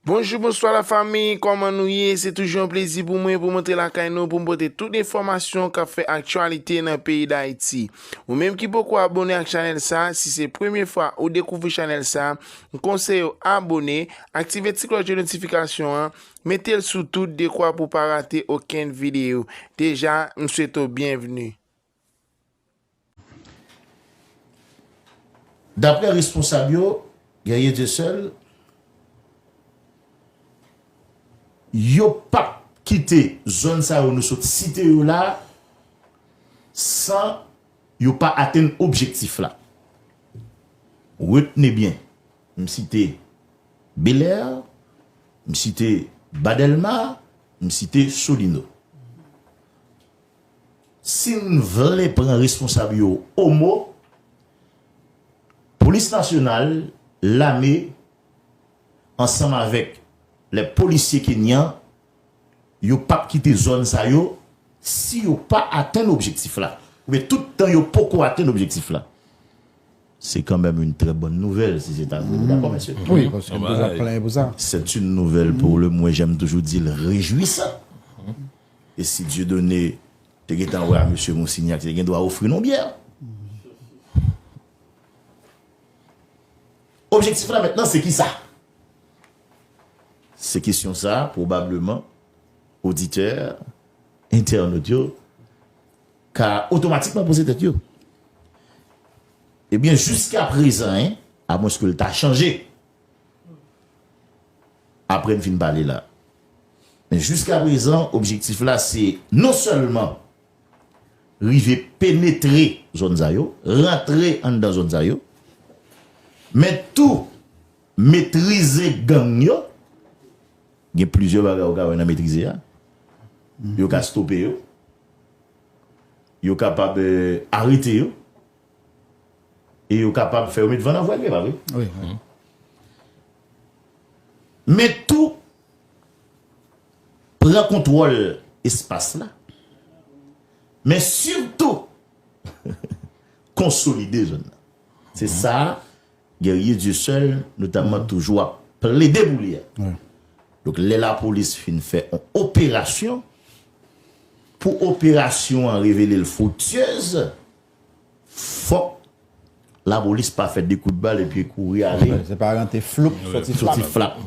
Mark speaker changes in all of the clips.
Speaker 1: Bonjou, bonswa la fami, kòman nou ye? Se toujou an plezi pou mwen pou montre lakay nou pou mpote tout enfòmasyon kap fè aktyalite nan peyi d'Haiti. Ou menm ki poko abone ak chanel sa, si se premye fwa ou dekouvri chanel sa, mkonseye ou abone, aktive ti klòch de notifikasyon an, Metel sou tout dekwa pou pa rate okenn video. Deja m swete w byenvni.
Speaker 2: Daprè responsab yo, Guerrier Dieuseul, yo pap kite zòn sa yo nou sot site yo la san yo pa atenn objektif la. Retne byen, m site Belair, m site Ba Dèlma, m site Solino. Si n vle pran responsab yo o mo, Polis Nasyonal, Lame, ansanm avèk lè polisye kenyan, yo pap kite zòn sa yo si yo pa atenn objektif la, oubyen tout tan yo poko atenn objektif la. Se kan menm yn trè bòn nouvèl si se ta vre nou dakò mesye? Wi paske n bezwen
Speaker 3: plenyen pou sa. C'est une nouvelle pour
Speaker 2: le mwen janm toujou di l rejwisan e si Dieudonné te gentan wè a mesye Monsignac li te gen dwa ofri nou byè. Objektif la mentnan se kisa? Se kesyon sa pwobableman oditè entènot yo. ka otomatikman poze tèt yo ebyen jiska prezan en a mwens ke l ta chanje apre m fin pale la men jiska prezan objektif la se non sèlman rive penetre zòn sa yo rantre anndan zòn sa yo men tou metrize gang yo gen plizyè bagay ou ka wè nan metrize a yo ka stope yo. Yo kapab arete yo e yo kapab fè yo met van nan vwèl, e pa vre? Wi, wi. Men tou, pran kontwòl espas la, men sitou konsolide zòn nan. Se sa Guerrier Dieuseul notamman toujou ap plede pou li a. Donk lè lapolis fin fè yon operasyon, pou operasyon an revele l friktyez, fòk lapolis pa fè de kout bal epi kouri ale. Se pa rantre floup,
Speaker 3: soti flap.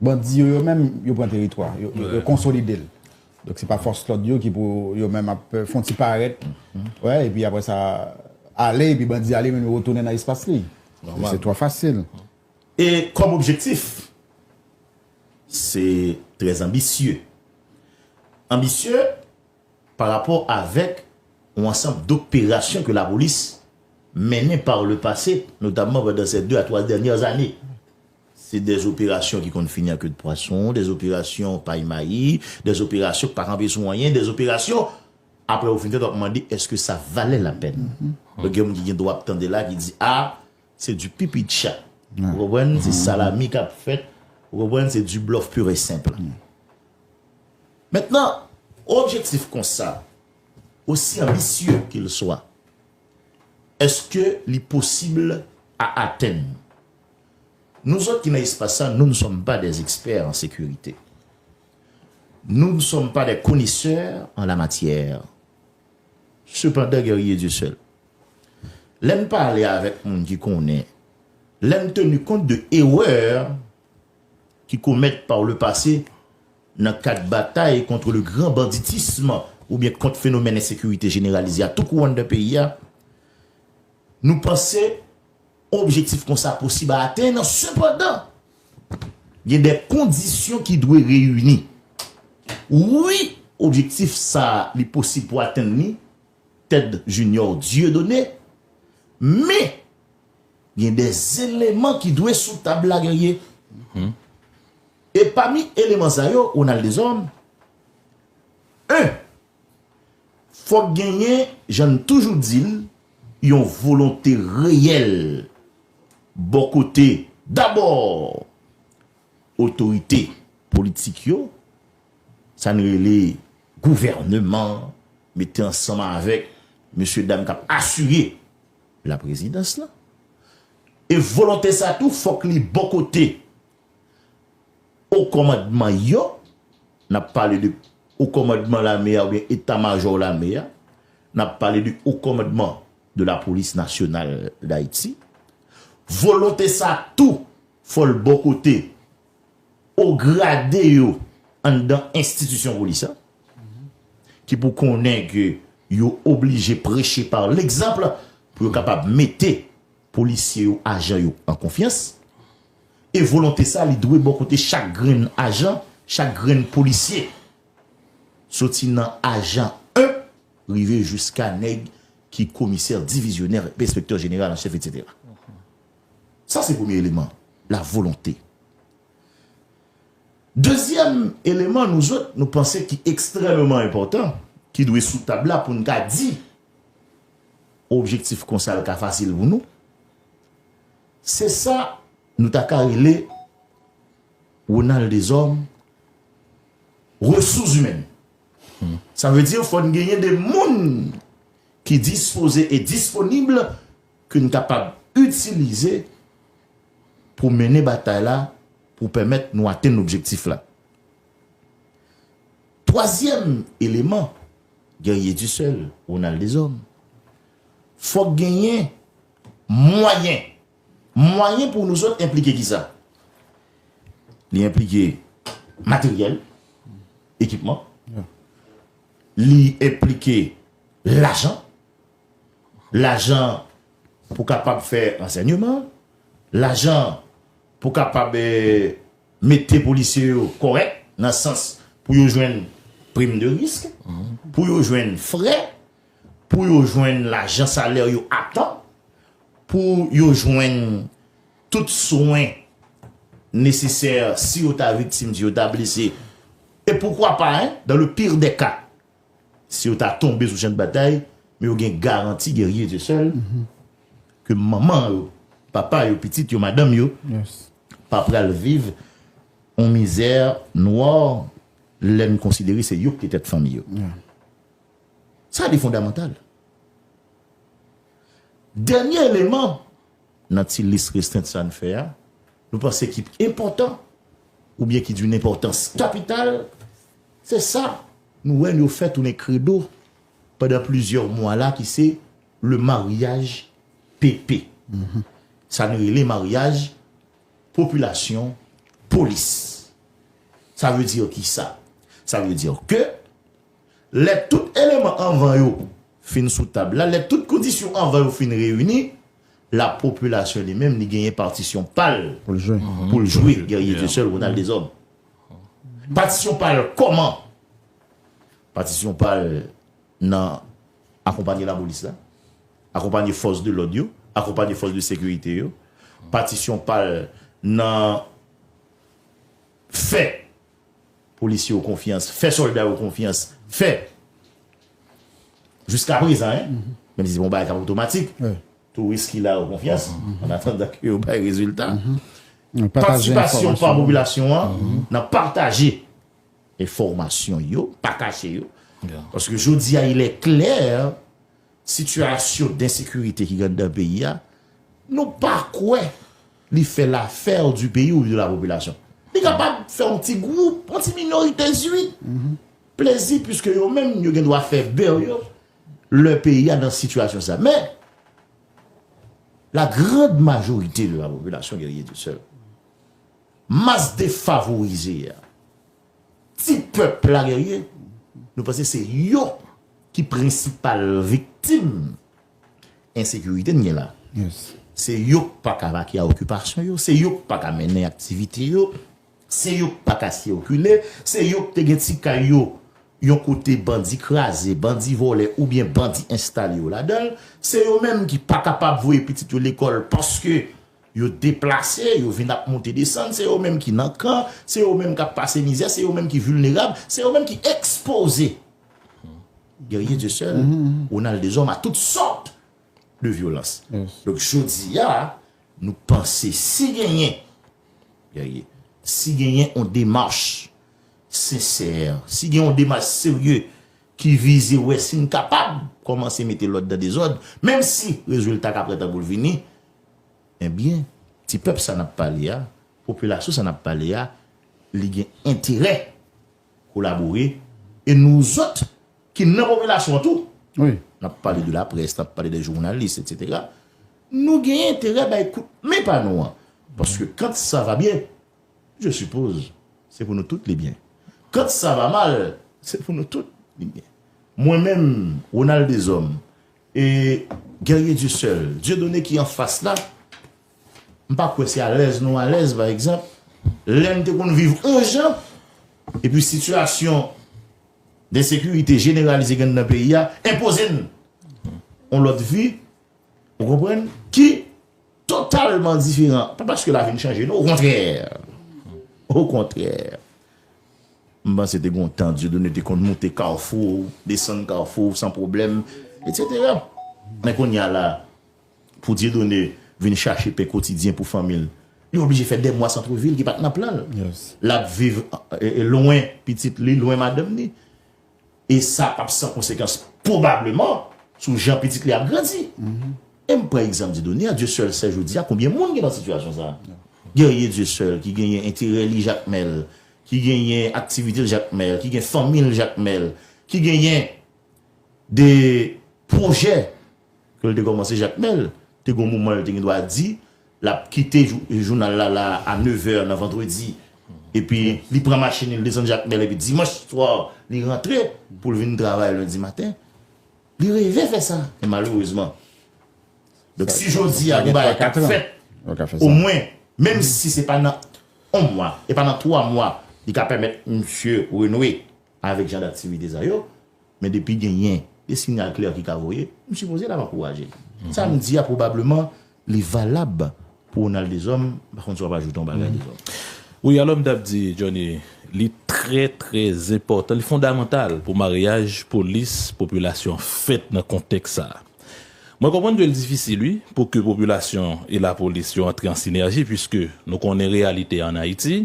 Speaker 2: Bandi
Speaker 3: yo yo menm yo pran teritwa, yo konsolide l. Donk se pa fòs lòd yo ki pou yo menm ap fon ti parèt wè epi apre sa ale epi bandi ale men yo retounen nan espas li. Se twò fasil. E kòm
Speaker 2: objektif se trè anbisye. Anbisye pa rapò avèk yon ansanm doperasyon ke lapolis mennen par le pase notamman pandan sè 2 a 3 dènyè ane. Se dè operasyon ki konn fini an ke de pwason, dè operasyon pay mayi, dè operasyon ki pa kanpe sou anyen, dè operasyon apre ou fin fèt wap mande eske sa valè lapèn. Donk gen moun ki gen dwa ap tande la ki di a se di pipi de chat. Ou konprann? Se salami kap fèt. Ou konprann? Se di blòf pur et simple. Mentnan, on objektif konsa, osi anbisye ke l swa, eske li posib a atenn? Nou zòt ki nan espas sa, nou n sòm pa dè ekspè an sekirite. Nou n sòm pa dè konesè an la matyè. Sepandan Guerrier Dieuseul, lè n pale avèk moun ki konnen, lè n tenu kont de erè ki komèt par le pase nan kad batay kontre le gran banditism oubyen kont fenomèn ensekirite jeneralize a tou kouran dan peyi a, nou panse Objektif kon sa posib atenn, sepandan, gen de kondisyon ki dwe reyini. Wi, objektif sa a li posib pou atenn li, Ted Junior Dieudonné, men, gen de eleman ki dwe sou tab la, Guerrier. E pami eleman sa yo, Ronald Deshommes, 1. Fòk genyen, jan n toujou di l, yon volonte reyèl bò kote dabò otorite politik yo, sa n rele gouvèneman an, mete ansanm avèk mesye dam k ap asire laprezidans lan. E volonte sa tou fòk li bò kote O kòmandman yo, n ap pale de o kòmandman lame a oubyen eta majò lame a, n ap pale de o kòmandman de la polis nasyonal dayiti, volonte sa tou fò l bò kote o grade yo anndan enstitisyon polis la ki pou konnen ke yo oblije preche par l egzanp pou yo kapab mete Polisye yo ajan yo an konfyans, e volonte sa li dwe bò kote chak grenn ajan, chak grenn polisye. Soti nan ajan 1 rive jiska nèg ki komisè, divizyonè, enspektè jeneral an chèf etc. Sa se premye eleman, la volonte. Dezyèm eleman nou zòt nou panse ki ekstrèmeman enpòtan, ki dwe sou tab la pou n ka di. Objektif konsa l ka fasil pou nou. Se sa nou ta ka rele Ronald Deshommes resous imèn. Sa vle di fò n genyen de moun ki dispoze e disponib ke n kapab itilize pou mennen batay la pou pèmèt nou atenn objektif la. Twazyèm eleman, Guerrier du seul, Ronald Deshommes, fòk genyen mwayen. Mwayen pou nou zòt enplike ki sa? Li enplike materyèl, ekipman, li enplike lajan, lajan pou kapab fè ansènyeman, lajan pou kapab mete polisye yo kòrèk nan sans pou yo jwenn prim de risk, pou yo jwenn frè, pou yo jwenn lajan salè yo a tan, pou yo jwenn tout swen nesesè si yo ta viktim, si yo ta blese, e poukwa pa, dan le pire des cas. Si yo ta tonbe sou chan de batay, men yo gen garanti gen rye ze sèl, ke manman yo, papa yo, pitit yo, madanm yo, pa pral viv yon mizè nwa lè n konsidere se yo ki te tèt fanmi yo. Sa li fondamantal. Dènye eleman. Nan ti lis restrent sa n fè a, nou panse ki p enpòtan oubyen ki dun enpòtans kapital, se sa nou wè n yo fè tounen kredo pandan plizyè mwa la ki se le maryaj PP. Sa n rele maryaj popilasyon polis. Sa vle di ki sa? Sa vle di ke. Lè tout eleman anvan yo fin sou tab la, lè tout kondisyon anvan yo fin reyini, lapopilasyon li menm li genyen patisyon pa l pou l
Speaker 3: jwe, Guerrier
Speaker 2: Dieu seul, Ronald Deshommes. Patisyon pa l kòman? Patisyon pa l nan akonpanye lapolis la, akonpanye fòs de lòd yo, akonpanye fòs de sekirite yo, patisyon pa l nan fè. Polisye yo konfyans, fè sòlda yo konfyans, fè jiska prezan hein, menm si se pa yon bagay kap otomatik, touris ki la yo konfyans an atandan ke yo bay rezilta. Patisipasyon pa popilasyon an nan pataje enfòmasyon yo, pa kache yo, paske jodi a ilè klè sitiyasyon densekirite ki gen anndan peyi a, nou pa kwè. Li fè l'affaire du pays ou de la population. Li kapab fè yon ti gwoup, yon ti minorite ui, plezi puiske yo menm yo gen dwa fè beurre yo lè peyi a nan situation sa. Men, la grande majorité de la population guerrier du seul, masse defavorizée a, ti pèp la guerrier, nou panse se yo ki prensipal viktim. Ensekirite n gen la, se yo k pa ka vake a okipasyon yo, se yo k pa ka mennen aktivite yo, se yo k pa ka sikile, se yo k te gen ti kay yo yon kote bandi kraze, bandi vòlè oubyen bandi enstale yo ladan l, se yo menm ki pa kapab voye pitit yo lekòl paske yo deplase, yo vin ap monte desann, se yo menm ki nan kan, se yo menm k ap pase mizè, se yo menm ki vilnerab, se yo menm ki ekspoze. Guerrier Dieu seul, Ronald Deshommes a tout sòt de vyolans. Donk jodi a nou panse si genyen Guerrier, si genyen yon demach sensè, si gen yon demach serye ki vize wè si n kapab kòmanse mete lòd nan dezòd, menm si rezilta ka pran tan pou l vini, enbyen ti pèp sa n ap pale a, popilasyon sa n ap pale a li gen enterè. kolabore e nou zòt ki nan popilasyon an tou n ap pale
Speaker 3: de
Speaker 2: laprès, n ap pale de jounalis etsetera nou gen enterè bay kout men pa nou an paske kant sa va byen je sipoz se pou nou tout li byen kant sa va mal se pou nou tout li byen mwen menm Ronald Deshommes e Guerrier Dieuseul Dieudonné ki anfas la. M pa kwè se alèz nou alèz pa egzanp lè n te konn viv on jan epi sitiyasyon densekirite jeneralize gen nan peyi a enpoze n on lòt vi ou konprann ki totalman diferan pa paske lavi n chanje non okontrè okontrè m panse te gon tan Dieudonne te konn moute kawfou desann kawfou san pwoblèm etsetera men kounye a la Pou Dieudonné vin chache pen kotidyen pou fanmi l, li oblije fè dè mwa santrevil ki pa t nan plan l. L ap viv lwen pitit li, lwen madanm ni. E sa p ap san konsekans pwobableman sou jan pitit li ap grandi. E m pran egzanp Dieudonné a, Dieuseul sè jodi a, konbyen moun ki nan sitiyasyon sa? Guerrier Dieuseul ki genyen enterè li Jakmèl, ki genyen aktivite l Jakmèl, ki gen fanmi l Jakmèl, ki genyen de pwojè. ke l te kòmanse Jakmèl te gon moman l te gen dwa di l ap kite jounal la la a nevè nan vandredi epi li pran machin li l desann Jakmèl epi dimanch swa li rantre pou l vin travay lendi maten li reve fè sa men malerezman donk si jodi a gen bagay k ap fèt omwen menm si se pa nan on mwa e pa nan twa mwa li ka pèmèt msye renoue avèk jan daktivite sa yo. Men depi genyen de sinyal klè ki ka voye, m sipoze l ap ankouraje l. Sa m di a pwobableman li valab pou Ronald Deshommes, m pa konn si w ap ajoute yon bagay Deshommes. Wi, alò m t ap
Speaker 4: di Johnny, li trè trè zenpòtan, li fondamantal pou maryaj polis, popilasyon fèt nan kontèks sa a. Mwen konprann ke l difisil wi pou ke popilasyon e lapolis yo antre an sinèji puiske nou konnen reyalite an Ayiti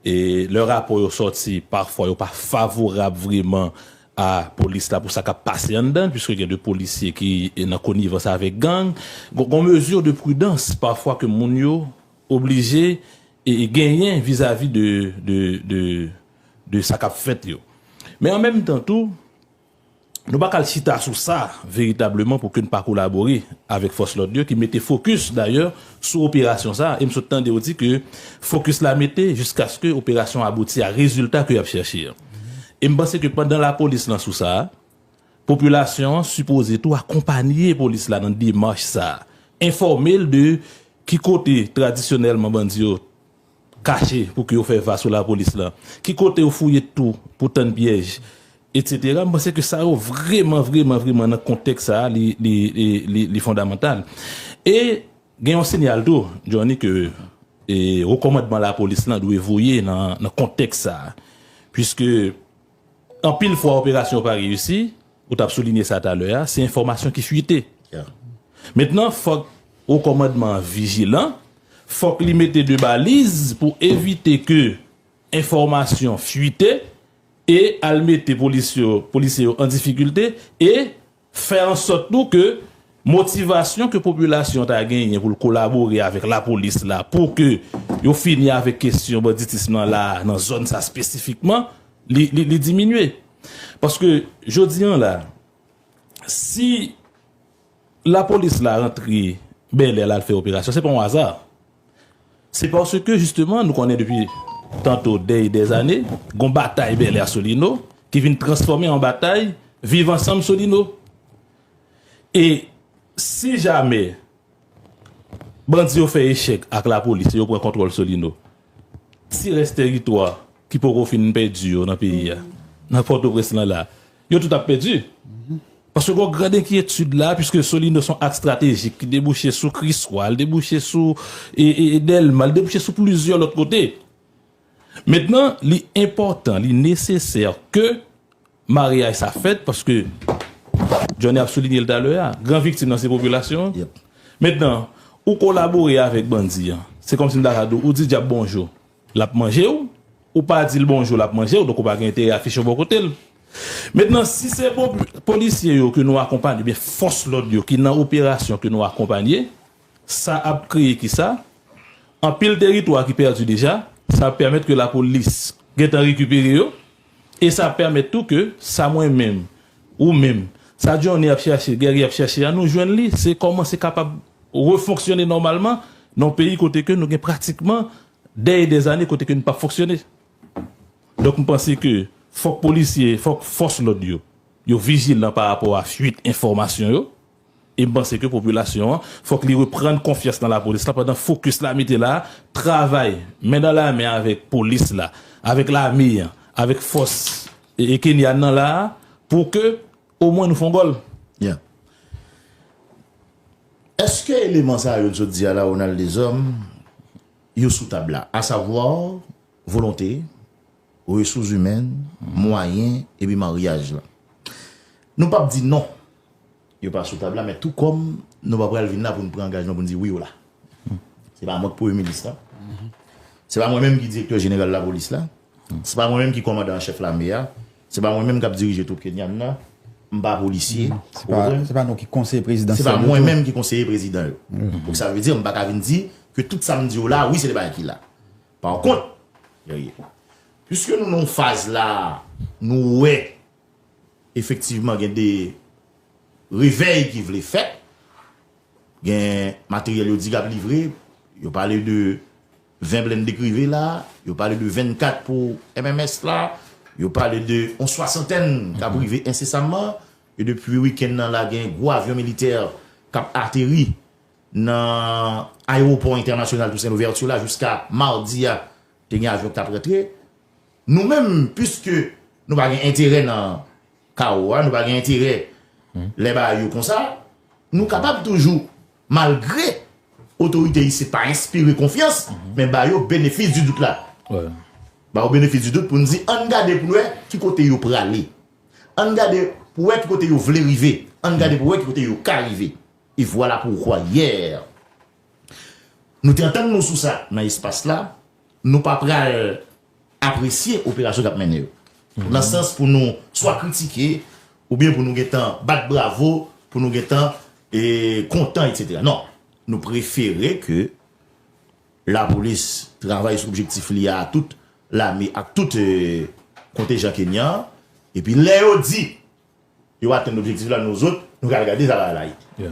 Speaker 4: E lè rapò yo sòti, pafwa yo pa favorab vreman a polis la pou sa k ap pase anndan l, puiske gen de polisye ki nan konivans avèk gang. Gon mezi de pridans pafwa ke moun yo oblije genyen vizavi de sa k ap fèt yo. Men an menm tan tou. Nou pa kal chita sou sa veritableman pou ke n pa kolabore avèk fòs lòd yo ki mete fokis dayè sou operasyon sa e m sot tande yo di ke fokis la mete jiskaske operasyon an abouti a rezilta ke y ap chèche an. E m panse ke pandan lapolis lan sou sa, popilasyon an sipoze tou akonpanye polis la nan demach sa, enfòme l de ki kote tradisyonèlman bandi yo kache pou ki yo fè va sou lapolis la, ki kote yo fouye tou pou tann pyèj etc. M panse ke sa yo vreman vreman vreman nan kontèks sa a li fondamantal. E gen yon sinyal tou Johnny ke wo kòmandman lapolis la dwe voye nan kontèks sa a. Puiske Anpil fwa operasyon pa reyisi, ou tap soulinye sa talè a, se enfòmasyon ki fwite. Mentnan fòk Wo Kòmandman an vijilan, fòk li mete de baliz pou evite ke enfòmasyon fwite e al mete polisye yo an difikilte e Fè an sòt tou ke motivasyon ke popilasyon ta genyen pou l kolabore avèk lapolis la pou ke yo fini avèk kesyon banditism nan la a, nan zòn sa spesifikman, li diminye. Paske jodi an la, si lapolis la rantre Bèlè al fè operasyon, se pa yon aza. Se paske jisteman nou konnen depi tanto dè e dè ane, gon batay Bèlè a Solino ki vin transfòme an batay Viv ansanm Solino. E si jamè bandi yo fè echèk ak lapolis e yo pran kontwòl Solino, ti rès teritwa ki poko fin pèdi yo nan peyi a, nan Pòtoprens lan la, Yo tout ap pèdi. Paske gen yon grande enkyetid la, piske Solino son aks stratejik ki debouche sou Kriswa, li debouche sou Dèlma, li debouche sou plizyè lòt kote. Mentnan, li enpòtan, li nesesè ke maryaj sa fèt, paske Johnny ap soulinye l talè a, gran viktim nan se popilasyon an. Mentnan, ou kolabore avèk bandi an, se kòmsi m ta ka di w, ou di dyab bonjou. Lap manjew, ou pa dil bonjou lap manjew donk ou pa gen enterè afichew bò kotel. Mentnan si se bon polisye yo ke nou akonpanye oubyen fòs lòd yo ki nan operasyon ke nou akonpanye, sa ap kreye kisa? Anpil teritwa ki pèdi deja, sa ap pèmèt ke lapolis gentan rekipere yo, E sa pèmèt tou ke sa mwen menm, ou menm, sa Johnny ap chache, Guerrier ap chache a, nou jwenn li, se kòmanse kapab refonksyone nòmalman nan yon peyi kote ke nou gen pratikman dè e dè zane kote ke nou pa fonksyone. Donk m panse ke fòk polisye, fòk fòs lòd yo, yo vijilan pa rapò a fuit enfòmasyon yo. E m panse ke popilasyon an fòk li reprann konfyans nan lapolis la pandan fokis la mete la travay men dan la men avèk polis la, avèk lame an, avèk fòs Kenyan nan la pou ke omwen nou fon gòl. Byen.
Speaker 2: Eske eleman sa yo n sot di a la Ronald Deshommes yo sou tab la? Asavwa volonte. Resous imèn, mwayen epi maryaj lan. Nou pap di non yo pa sou tab la men tou kòm nou pa pral vin la pou n pran angajman pou n di wi yo la. Se pa mwen ki Premye Minis la. Se pa mwen menm ki Direktè Jeneral Lapolis la. Se pa mwen menm ki Kòmandan an Chèf Lame a. Se pa mwen menm k ap dirije twoup Kenyan nan. M pa polisye. Ou konprann? Se pa nou
Speaker 3: ki Konseye Prezidansyèl yo tou. Se pa mwen menm
Speaker 2: ki
Speaker 3: Konseye
Speaker 2: Prezidan yo. Donk sa vle di m pa ka vin di ke tout sa m di yo la wi se de bagay ki la. Par kont, piske nou nan yon faz la a, nou wè efektivman gen de revèy ki vle fèt, gen materyèl yo di k ap livre, yo pale de 20 blende Crive la, yo pale de 24 pou MMS la, yo pale de yon swasantèn k ap rive ensesamman, e depi wikenn nan la gen gwo avyon militè k ap ateri Nan ayewopò entènasyonal Toussaint Louverture la jiska madi a te gen avyon ki tap rantre. Nou menm piske nou pa gen enterè nan kawo a, nou pa gen enterè lè bagay yo konsa, nou kapab toujou malgre otorite isit pa enspire konfyans men ba yo benefis di dout la.
Speaker 4: Ba yo
Speaker 2: benefis di dout pou n di ann gade pou n wè ki kote yo prale. Ann gade pou wè ki kote yo vle rive. Ann gade pou wè ki kote yo ka rive. E vwala poukwa yè nou te antann nou sou sa nan espas la, nou pa pral apresye operasyon k ap mennen yo. Nan sans pou nou swa kritike oubyen pou nou gen tan bat bravo, pou nou gen tan kontan etsetera. Non. Nou prefere ke lapolis travay sou objektif li a ak tout lame ak tout kontejan kenyan an. Epi lè yo di Yo atenn objektif la nou zot nou kal gade sa la la ye.